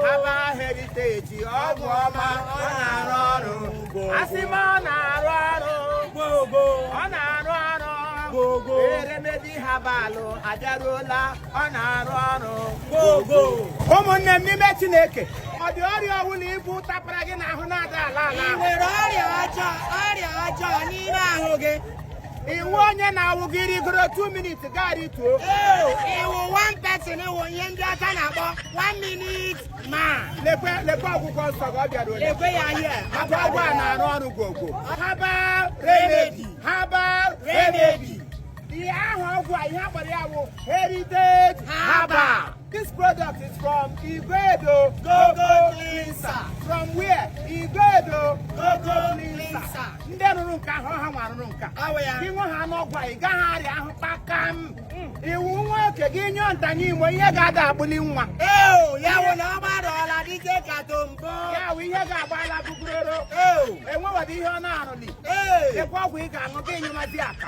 herbal heritage ọgwụ ọma ọ na-arụ ọrụ asị m ọ na-arụ ọrụ ọ na-arụ ọrụ remedy herbal abịaruola ọ na-arụ ọrụ ụmụnne m n'ime Chineke ọ dị ọrịa ọbụla i bu tapara gị n'ahụ na-ada ala ala i nwere ọrịa ọjọọ n'ime ahụ gị ị wụ onye na-awụ gị rigoro 2 minutes gị arituo ị wụ one person ị wụ ihe ndị ọcha na-akpọ one minute man lekwe ọgwụgwọ nsọ ka ọ bịara ole lekwe ya ihe maka ọgwụ a na-arụ ọrụ ọgwụgwọ herbal remedy herbal remedy ihe ahụ ọgwụ a ihe a kpọrọ ya wụ heritage herbal This product is from Iguedo Goko Cleanser. From where? Iguedo Goko Cleanser. Ndị rụrụ nke ahụ ha nwa rụrụ nke a. Gị nwe ha ṅụọ ọgwụ a ị gaghị arịa ahụ kpakam. Ị wụ nwoke gị nyụọ ntanye imo ihe ga-ada agbụli nwa. Ee, ya wụ na ọ gbarụọla dike ka tombo. Ya wụ ihe ga-agba ala buguroro. Ee, enwewadị ihe ọ na-arụli. Ee, lekwe ọgwụ ị ga-aṅụ gị nyụmadị aka.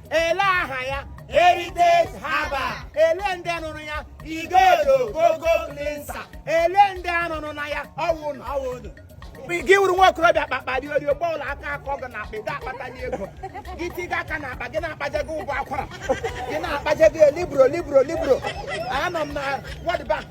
ele aha ya heritage herbal ele ndị nụrụ ya Iguedo Goko Cleanser ele ndị anụrụ na ya ọwụ na ọwụ gị wụrụ nwa okorobịa kpakpa dị orio gba ụlọ aka akọ gị na akpa ị ga-akpatali ego gị tiga aka na akpa gị na-akpajego ụgwọ akwara gị na-akpajego libro libro libro anọ m na wọdba